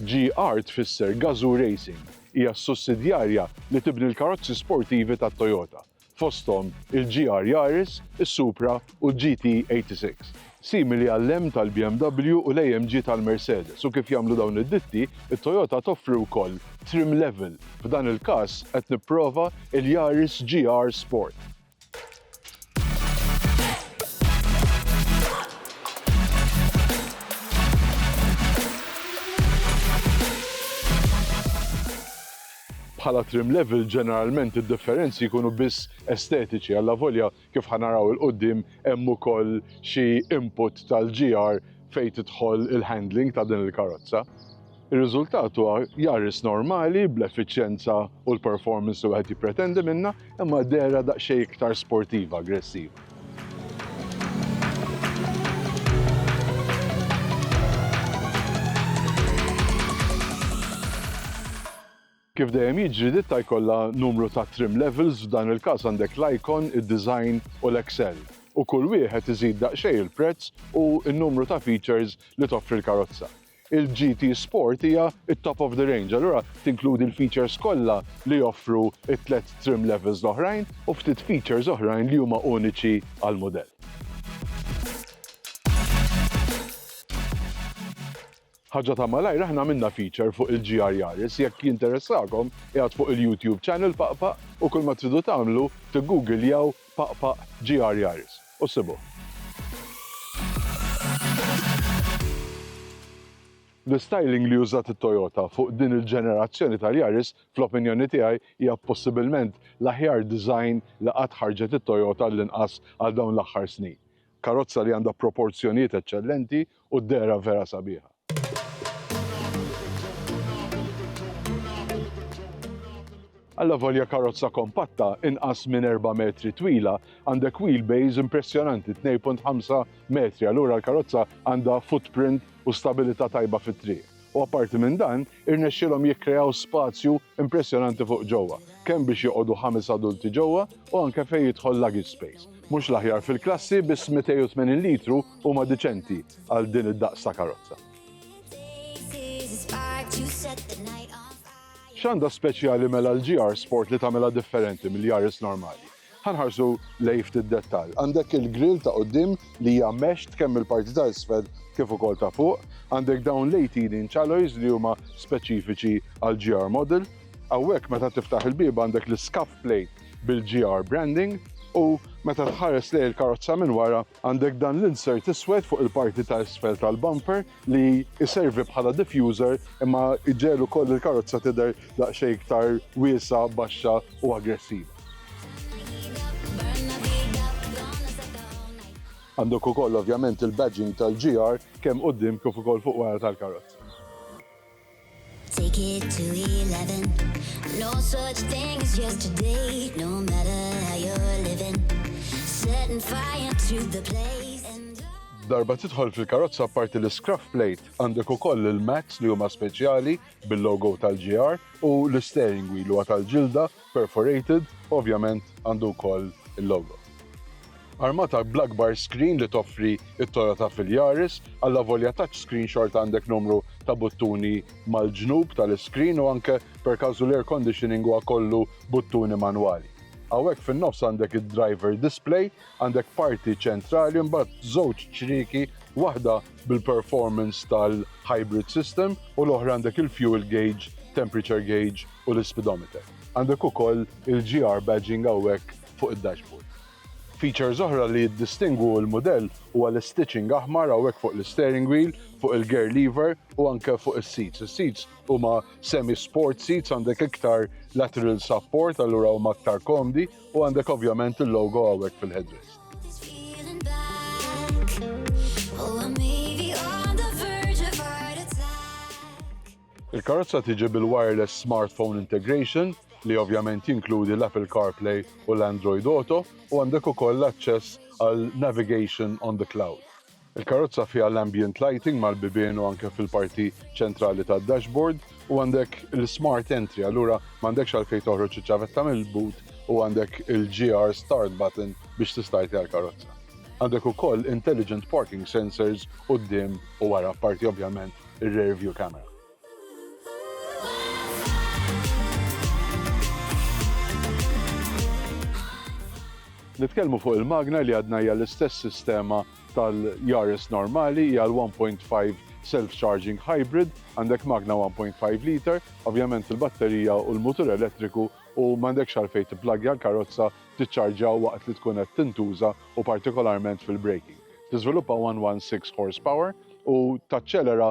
GR tfisser Gazoo Racing. Hija s-sussidjarja li tibni l-karozzi sportivi ta' Toyota, fosthom il-GR Yaris, is-Supra u l-GT86. Simili għall-M tal-BMW u l-AMG tal-Mercedes u kif jagħmlu dawn id-ditti, it-Toyota toffri wkoll trim level, f'dan il-każ qed nipprova l-Yaris GR Sport. bħala trim level ġeneralment id-differenzi jkunu biss estetiċi għalla volja kif ħanaraw il-qoddim hemm ukoll xi input tal-GR fejn tidħol il-handling ta' din il-karozza. Ir-riżultat huwa Yaris normali, bl-effiċjenza u l-performance li wieħed jippretendi minnha, imma dehra daqsxejn iktar sportiva, aggressiva. Kif dejjem jiġri, ditta jkollha numru ta' trim levels, f'dan il-każ għandek l-icon, id-design u l-excel, u kull wieħed iżid daqsxejn il-prezz u n-numru ta' features li toffri l-karozza. Il-GT Sport hija t-top of the range, allura tinkludi l-features kollha li joffru t-tliet trim levels l-oħrajn, u ftit features oħrajn li huma uniċi għall-mudell. Ħaġa ta' malajr aħna għamilna feature fuq il-GR Yaris, jekk jinteressakom qiegħed fuq il-YouTube channel Paq Paq u kull ma tridu tagħmlu tiggugiljaw Paq Paq GR Yaris u ssibuh. L-istyling li użat it-Toyota fuq din il-ġenerazzjoni tal-Yaris fl-opinjoni tiegħi hija possibilment l-aħjar design li qatt ħarġet it-Toyota għallinqas għal dawn l-aħħar snin. Karozza li għandha proporzjonijiet eċċellenti u d-dehra vera sabiħa. Allavolja karozza kompatta inqas minn 4 metri twila, għandek wheelbase impressjonanti 2.5 metri, allura l-karozza għandha footprint u stabilità tajba fit-triq. u apparti minn dan, irnexxielhom jikkreaw spazju impressjonanti fuq ġewwa, kemm biex joqogħdu ħames adulti ġewwa u anke fejn jidħol luggage space. Mhux l-aħjar fil-klassi, biss 280 litru huma diċenti għal din id-daqs ta' karozza. X'għandha speċjali mela l-GR Sport li tagħmilha differenti mill-Yaris normali? Ħa nħarsu lejn ftit dettall. Għandek il-grill ta' quddiem li hija meshed kemm mill-parti ta' isfel kif ukoll ta' fuq. Għandek dawn l-18 alloys li huma speċifiċi għall-GR model. Hawnhekk meta tiftaħ il-bieb għandek l-scuff plate bil-GR branding u meta tħares lejn il-karozza minn wara għandek dan l-insert iswed fuq il-parti ta' isfel tal-bumper li jservi bħala diffuser imma jġegħel ukoll il-karozza tidher daqsxejn iktar wiesgħa, baxxa u aggressiva. Għandek ukoll ovvjament il-badging tal-GR kemm quddiem kif ukoll fuq wara tal-karozza. Take it to 11 No such thing as yesterday No matter how you're living Setting fire to the place Darba tidħol fil-karozza parti l-scruff plate għandek ukoll il-mats li huma speċjali bil-logo tal-GR u l-steering wheel huwa tal-ġilda perforated u ovvjament għandu wkoll il-logo. Armata bl-akbar screen li toffri t-Toyota fil-Yaris, allavolja touchscreen xorta għandek numru ta' buttuni mal-ġnub tal-iscreen u anke per każu l-air conditioning huwa kollu buttuni manwali. Hawnhekk fin-nofs għandek id-driver display, għandek parti ċentrali mbagħad żewġ ċrieki, waħda bil-performance tal-hybrid system u l-oħra għandek il-fuel gauge, temperature gauge u l-speedometer. Għandek ukoll il-GR badging hawnhekk fuq id-dashboard. Features oħra li jiddistingwu l-mudell huwa l-istitching aħmar hawnhekk fuq l-isteering wheel, fuq il-gear lever u anke fuq is-seats. Is-seats huma semi-sport seats, għandek iktar lateral support allura huma aktar komdi U għandek ovvjament il-logo hawnhekk fil-headrest. Il-karozza tiġi bil-wireless smartphone integration li ovvjament jinkludi l-Apple CarPlay u l-Android Auto u għandek ukoll l-aċċess għal navigation on the cloud. Il-karozza fiha l-ambient lighting mal-bibien u anke fil-parti ċentrali tad-dashboard u għandek l-smart entry allura m'għandekx għalfejn toħroġ iċ-ċavetta mill-boot u għandek il-GR start button biex tistartja l-karozza. Għandek ukoll intelligent parking sensors quddiem u wara apparti ovvjament ir-rear view camera. Nitkellmu fuq il-magna li għadna hija l-istess sistema tal-Yaris normali, hija l-1.5 self-charging hybrid, għandek magna 1.5 liter, ovvjament il-batterija u l-mutur elettriku u m'għandekx għalfejn tipplagja l-karozza tiċċarġja waqt li tkun qed tintuża u partikolarment fil-braking. Tiżviluppa 116 horsepower u taċċelera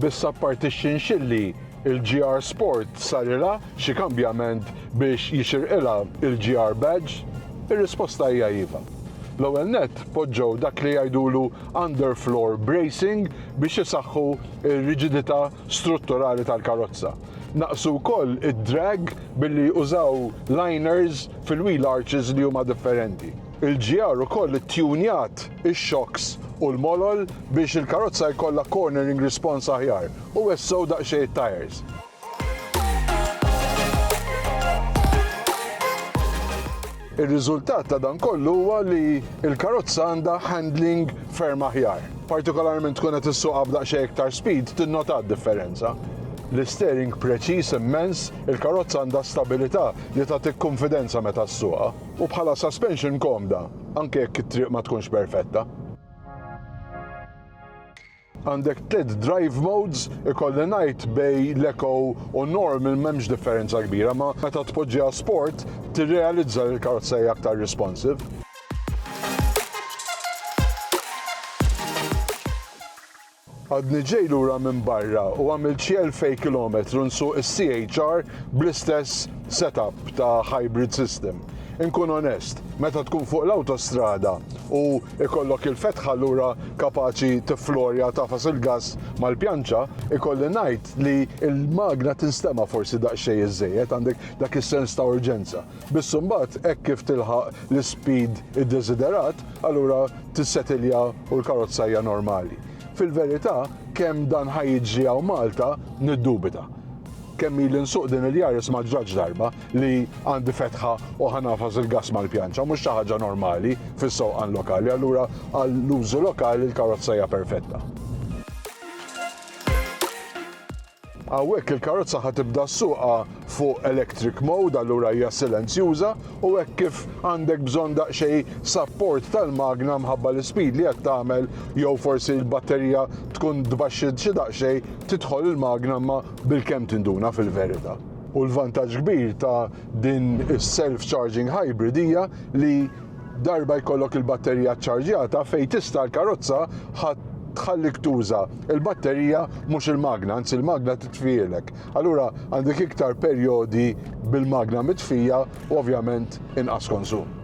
Biss apparti x-xinxilli, il-GR Sport sarilha xi kambjament biex jixirqilha il-GR Badge? Ir-risposta hija iva. L-ewwel nett poġġew dak li jgħidulu underfloor bracing biex isaħħu r-riġidità strutturali tal-karozza. Naqqsu wkoll id-drag billi użaw liners fil-wheel arches li huma differenti. Il-GR ukoll ittjunjat ix-xokks u l-molol biex il-karozza jkollha cornering response aħjar u wessgħu daqsxejn it-tajers. Ir-riżultat ta' dan kollu huwa li l-karozza għandha handling ferm aħjar. Partikolarment tkun qed issuqha b'daqsxejn iktar speed tinnota d-differenza. L-isteering preċiż immens, il-karozza għandha stabilità li tagħtik kunfidenza meta ssuqha. u bħala suspension komda anke jekk it-triq ma tkunx perfetta. Għandek tliet drive modes, ikolli ngħid bej l-eco u normal m'hemmx differenza kbira ma meta tpoġġiha sport tirrealizza li l-karozza hija aktar responsive. Għadni ġej lura minn barra u għamilt xi elfej kilometru nsuq is-CHR bl-istess set-up ta' hybrid system. Inkun onest, meta tkun fuq l-awtostrada u ikollok il-fetħa lura kapaċi tifflorja tagħfas il-gass mal-pjanċa, ikolli ngħid li l-magna tinstema' forsi daqsxejn iż-żejjed, għandek dak is-sens ta' urġenza. Biss imbagħad hekk kif tilħaq l-ispeed iddeżiderat, allura tissetilja u l-karozza hija normali. Fil-verità, kemm dan ħa jiġri hawn Malta niddubita. Kemm ili nsuq din il-Yaris ma ġratx darba li għandi fetħa u ħa nagħfas il-gass mal-pjanċa, mhux xi ħaġa normali fis-sewqan lokali, allura għall-użu lokali l-karozza hija perfetta. Hawnhekk il-karozza ħa tibda ssuqha fuq electric mode allura hija silenzjuża u hekk kif għandek bżonn daqsxejn sapport tal-magna mħabba l-ispeed li qed tagħmel jew forsi l-batterija tkun tbaxxi xi daqsxejn tidħol il-magna imma bilkemm tinduna fil-verita'. U l-vantaġġ kbir ta' din is-self charging hybrid hija li Darba jkollok il-batterija ċċarġjata fejn tista' l-karozza ħa tħallik tuża l-batterija mhux il-magna, anzi l-magna titfielek. Allura għandek iktar perjodi bil-magna mitfija u ovvjament inqas konsum.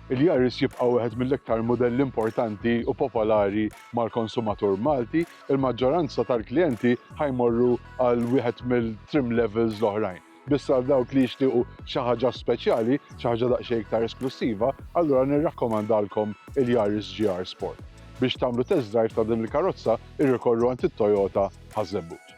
Il-Yaris jibqa' wieħed mill-iktar mudelli importanti u popolari mal-konsumatur Malti Il-maġġoranza tal-klijenti ħa jmorru għal wieħed mill-trim levels l-oħrajn. Biss għal dawk li jixtiequ xi ħaġa speċjali, xi ħaġa daqsxejn iktar esklussiva, allura nirrakkomandalkom il-Yaris GR Sport. Biex tagħmlu test drive ta' din il-karozza, irrikorru għand it-Toyota Ħaż-Żebbuġ.